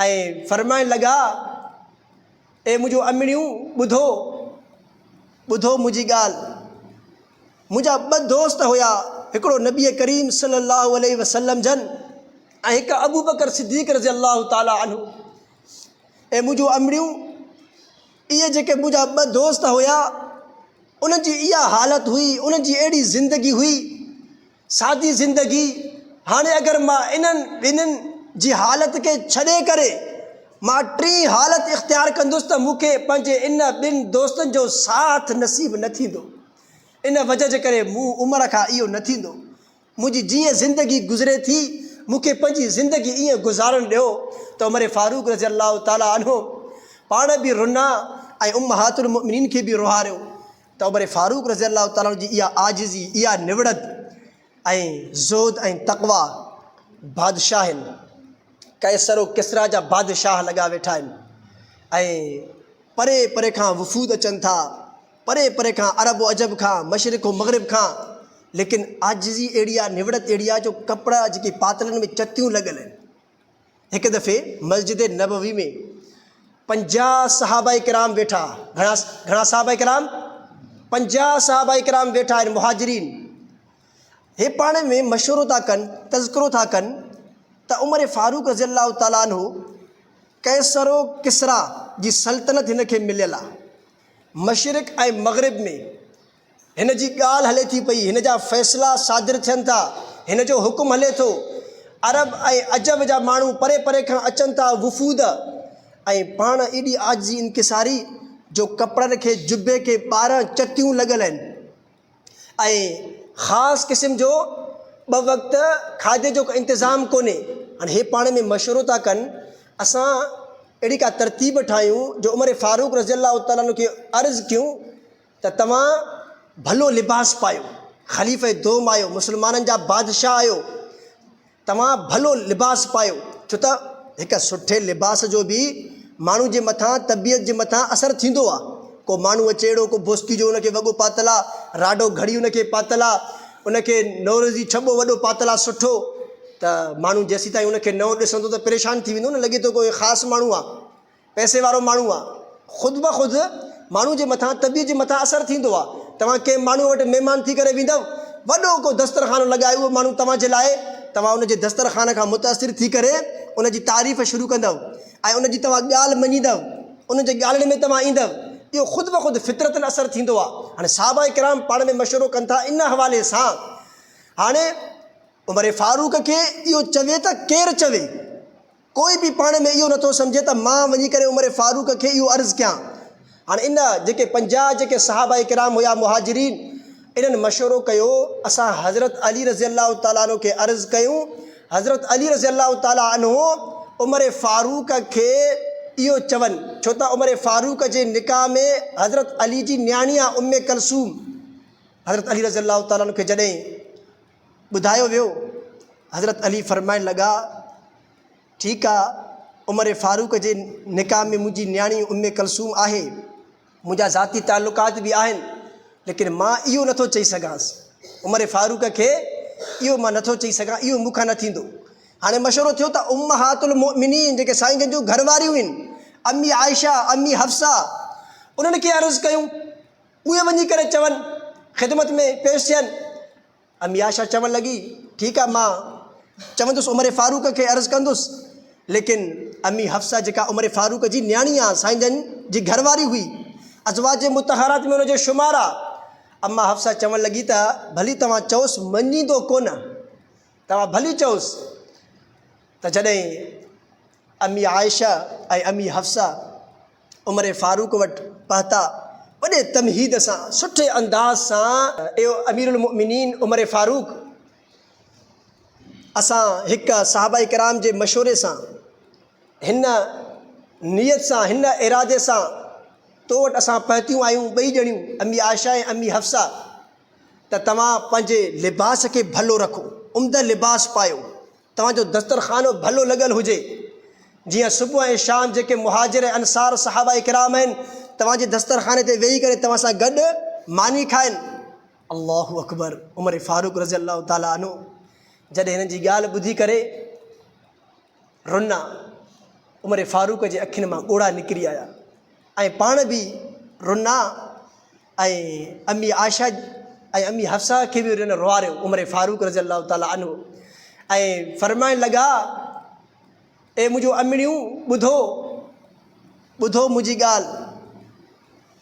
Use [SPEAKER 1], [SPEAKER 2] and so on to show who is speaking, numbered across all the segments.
[SPEAKER 1] ۽ فرمائڻ لڳا، اي منهنجو امڙيون ٻڌو، ٻڌو منهنجي ڳالهه، منهنجا ٻه دوست هيا هڪڙو نبي ڪريم صلي الله عليه وسلم جن ۽ هڪ ابوبڪر صديق رضي الله تعالٰي عنه، اي منهنجو امڙيون اهي جيڪي منهنجا ٻه دوست هيا انهن جي اها حالت هئي، انهن جي اهڙي زندگي هئي. سادي زندگي، هاڻي اگر مان انهن ٻنهين جي حالت کي ڇڏي ڪري مان ٽين حالت اختيار ڪندس ته مون کي پنهنجي ان ٻن دوستن جو ساٿ نصيب نه ٿيندو. ان وجه جي ڪري مون عمر کان اهو نه ٿيندو. منهنجي جيئن زندگي گذري ٿي مون کي پنهنجي زندگي ائين گذارڻ ڏيو ته عمر فاروق رضي الله تعالٰي عنه پاڻ به رنا ۽ امهات المؤمنين کي به روهاريو. ته عمر فاروق رضي الله تعالٰي عنه جي اها عاجزي، اها نوڙت ۽ زهد ۽ تقويٰ بادشاهن قيصر و ڪسريٰ جا بادشاهه لڳا ويٺا آهن ۽ پري پري کان وفود اچن ٿا، پري پري کان عرب و عجب کان، مشرق و مغرب کان، ليڪن عاجزي اهڙي آهي، نوڙت اهڙي آهي جو ڪپڙا جيڪي پاتلن ۾ چتيون لڳل آهن. هڪ دفعي مسجد نبوي ۾ پنجاهه صحابه ڪرام ويٺا، گهڻا گهڻا صحابه ڪرام؟ پنجاهه صحابه ڪرام ويٺا آهن، مهاجرين. هي پاڻ ۾ مشورو ٿا ڪن، تذڪرو ٿا ڪن ته عمر فاروق رضي الله تعالٰي عنه قيصر و ڪسريٰ جي سلطنت هن کي مليل آهي. مشرق ۽ مغرب ۾. هن جي ڳالهه هلي ٿي پئي، هن جا فيصلا صادر ٿين ٿا، هن جو حڪم هلي ٿو. عرب ۽ عجم جا ماڻهو پري پري کان اچن ٿا، وفود، ۽ پاڻ ايڏي عاجزي انڪساري جو ڪپڙن کي جبي کي ٻارهن چتيون لڳل آهن ۽ خاص قسم جو ٻه وقت کاڌي جو انتظام ڪونهي. هاڻي هي پاڻ ۾ مشورو ٿا ڪن اسان اهڙي ڪا ترتيب ٺاهيون جو عمر فاروق رضي الله تعالٰي عنه کي عرض ڪيون. ته توهان ڀلو لباس پايو، خليفه دوم آهيو، مسلمانن جا بادشاهه آهيو، توهان ڀلو لباس پايو، ڇو ته هڪ سٺي لباس جو به ماڻهو جي مٿان، طبيعت جي مٿان اثر ٿيندو آهي. ڪو ماڻهو اچي اهڙو ڪو بوسڪي جو ان کي وڳو پاتل آهي، راڊو گهڙي ان کي پاتل آهي، ان کي نوروزي ڇٻو وڏو پاتل آهي سٺو، ته ماڻهو جيسيتائين ان کي نئون ڏسندو ته پريشان ٿي ويندو نه، لڳي ٿو ڪو خاص ماڻهو آهي. پئسي وارو ماڻهو آ. خود بخود ماڻهو جي مٿان طبيعت جي مٿان اثر ٿيندو آ. توهان ڪنهن ماڻهو وٽ مهمان ٿي ڪري ويندؤ، وڏو ڪو دسترخوان لڳائي اهو ماڻهو توهان جي لاء، توهان ان جي دسترخوان کان متاثر ٿي ڪري ان جي تعريف شروع ڪندؤ ۽ ان جي توهان ڳالهه مڃيندؤ، ان جي ڳالهين ۾ توهان ايندؤ. اهو خود بخود فطرتن اثر ٿيندو آ. هاڻي صحابه ڪرام پاڻ ۾ مشورو ڪن ٿا ان حوالي سان. هاڻي عمر فاروق کي اهو چوي ته ڪير چوي. ڪوئي به پاڻ ۾ اهو نٿو سمجهي ته مان وڃي ڪري عمر فاروق کي اهو عرض ڪيان. هاڻ ان جيڪي پنجاهه جيڪي صحابه ڪرام هيا مهاجرين انهن مشورو ڪيو اسان حضرت علي رضي الله تعالٰي عنه کي عرض ڪيون حضرت علي رضي الله تعالٰي عنه عمر فاروق کي اهو چون ڇو ته عمر فاروق جي نڪاح ۾ حضرت علي جي نياڻي آ ام ڪلثوم حضرت علي رضي الله تعالٰي عنه کي جڏهن ٻڌايو ويو. حضرت علي فرمائڻ لڳا، ٺيڪ آ، عمر فاروق جي نڪاح ۾ منهنجي نياڻي ام ڪلثوم آهي، منهنجا ذاتي تعلقات به آهن، ليڪن مان اهو نٿو چئي سگهانس. عمر فاروق کي اهو مان نٿو چئي سگهان، اهو مون کان نه ٿيندو. هاڻي مشورو ٿيو ته امهات المؤمنين جيڪي سائين جن جون گهر واريون هن، امي عائشه، امي حفصه، انهن کي عرض ڪيون. اهي وڃي ڪري چون، خدمت ۾ پيش ٿين. امي عائشه چوڻ لڳي، ٺيڪ آ مان چوندس عمر فاروق کي عرض ڪندس. ليڪن امي حفصه جيڪا عمر فاروق جي نياڻي آ سائين جن جي گهر واري هئي، ازواج مطهرات ۾ ان جو شمار آ. اما حفصه چوڻ لڳي ته ڀلي توهان چئوس مڃيندو ڪونه. توهان ڀلي چئوس ته جڏهن امي عائشه ۽ امي حفصه، عمر فاروق وٽ پهتا، وڏي تمهيد سان، سٺي انداز سان. اي اميرالمؤمنين عمر فاروق! اسان هڪ صحابه ڪرام جي مشوري سان، هن نيت سان، هن ارادي سان تو وٽ اسان پهتيون آهيون ٻئي ڄڻيون، امي عائشه ۽ امي حفصه، ته توهان پنهنجي لباس کي ڀلو رکو، عمده لباس پايو. توهان جو دسترخانو ڀلو لڳل هجي، جيئن صبح ۽ شام جيڪي مهاجر ۽ انصار صحابه ڪرام آهن، توهان جي دسترخاني تي ويهي ڪري توهان سان گڏ ماني کائن. الله اڪبر، عمر فاروق رضي الله تعالٰي عنه جڏهن هنن جي ڳالهه ٻڌي ڪري رنا، عمر فاروق جي اکين مان ڳوڙها نڪري آيا ۽ پاڻ به رنا. ۽ امي عائشه ۽ امي حفصه کي به انهن روئاريو، عمر فاروق رضي الله تعالٰي عنه، ۽ فرمائڻ لڳا، اي منهنجو امڙيون ٻڌو، ٻڌو منهنجي ڳالهه،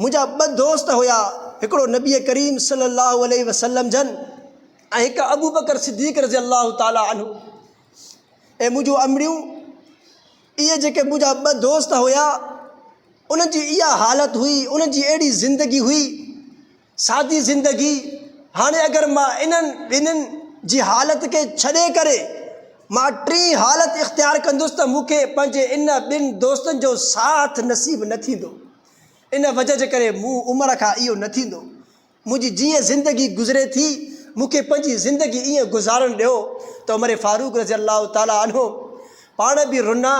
[SPEAKER 1] منهنجا ٻه دوست هيا هڪڙو نبي ڪريم صلي الله عليه وسلم جن ۽ هڪ ابوبڪر صديق رضي الله تعالٰي عنه، اي منهنجو امڙيون! اهي جيڪي منهنجا ٻه دوست هيا انهن جي اها حالت هئي انهن جي اهڙي زندگي هئي سادي زندگي هاڻي اگر مان انهن ٻنهين جي حالت کي ڇڏي ڪري مان ٽين حالت اختيار ڪندس ته مون کي پنهنجي ان ٻن دوستن جو ساٿ نصيب نه ٿيندو ان وجه جي ڪري مون عمر کان اهو نه ٿيندو منهنجي جيئن زندگي گذري ٿي، مون کي پنهنجي زندگي ائين گذارڻ ڏيو ته عمر فاروق رضي الله تعالٰي عنه پاڻ به رنا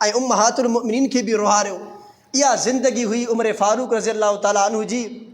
[SPEAKER 1] ۽ امهات المؤمنين کي به روهاريو. اها زندگي هئي عمر فاروق رضي الله تعالٰي عنه جي.